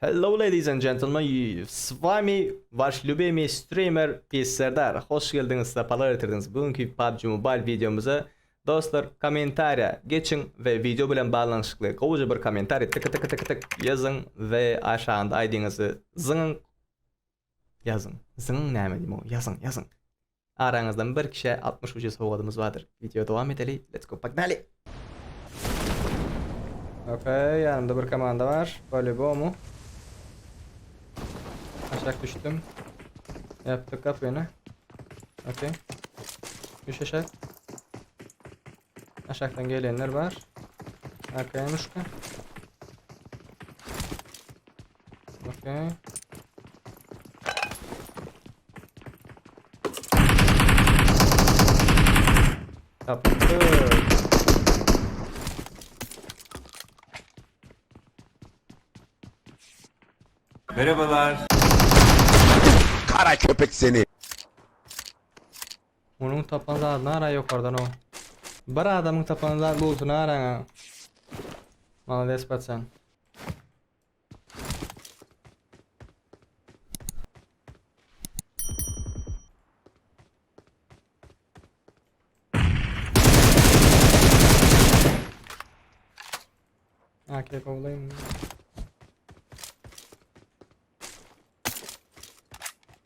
Hello ladies and gentlemen s wami wash lubimiy streamer pis serdar hoş geldiňiz sapalar getirdiňiz bugünki pubg mobile wideomyza dostlar kommentariýa geçiň we wideo bilen baglanyşykly gowja bir kommentariý tyky tyky tyky tyk ýazyň we aşagynda aýdyňyzy zyňyň ýazyň zyňyň näme diýmow ýazyň ýazyň Araňyzdan bir kişä altmyş ucuz sowgadymyz bardyr. Video dowam edeli let's go pognaly! Ok ýanymda bir komanda bar polýubomu. Aşak düşdüm. Ýapdyk gapyny. Ok. Düş aşak. Aşakdan gelenler bar. AKM'uşka. Okey. Tapıştı. Merhabalar. Kara köpek seni. Onuň tapan zady nara ýokardan o. Bir adamyň tapan zady luty naraňa. Malades paçan. Akil kovlayım.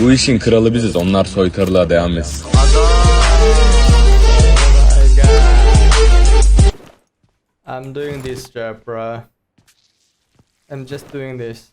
Bu işiň kraly biziz onlar soytarlar degam et. I'm doing this job bro. I'm just doing this.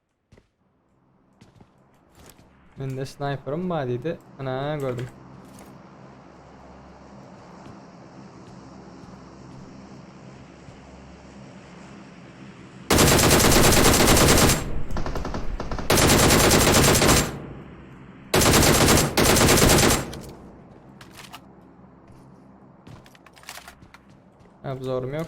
Mende snayperim bar dedi. Ana gördüm. Abzorum yok.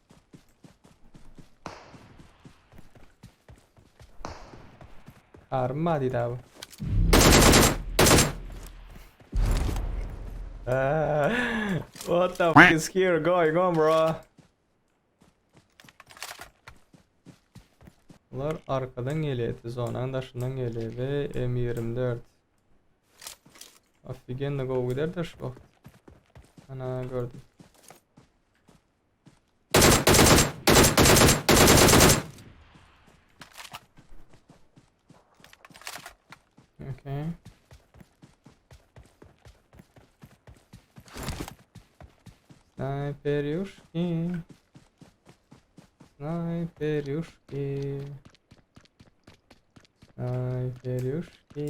Army ma diýdi abi. What the fuck is here going on bro? Bunlar arkadan gelýärdi, zonanyň daşyndan gelýärdi. M24. Ofigenno gowy giderdi şu wagt. Ana gördüm. Snajperjuški. Snajperjuški. Snajperjuški.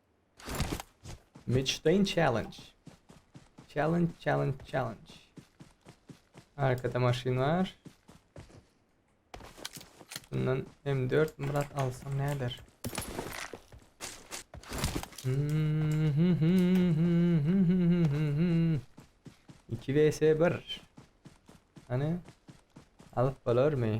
Michdin challenge. Challenge, challenge, challenge. Arkada maşyn var. Bundan M4 Murat alsam ne eder? İki vs bir. Hani alıp olur mu?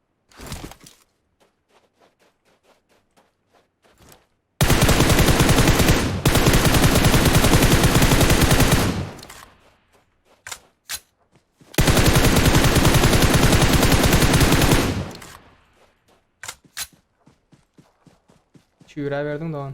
Çüre verdin dogan.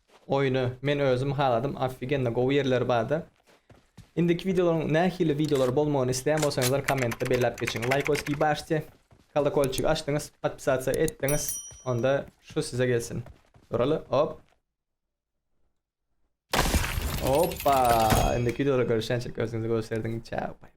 Oýny men özüm haladym ofigенно gowy ýerleri barda. Indiki wideolaryň nähili wideolar bolmagyny isleýän bolsaňyzlar kommentde belläp geçiň. Laýkoskiý başti, kolokolçigi açdyňyz, podpisasiýa etdiňiz onda şu size gelsin. Duraly hop. Hoppa indiki wideoda görüşýänçik özüňize göz serdiň çäw.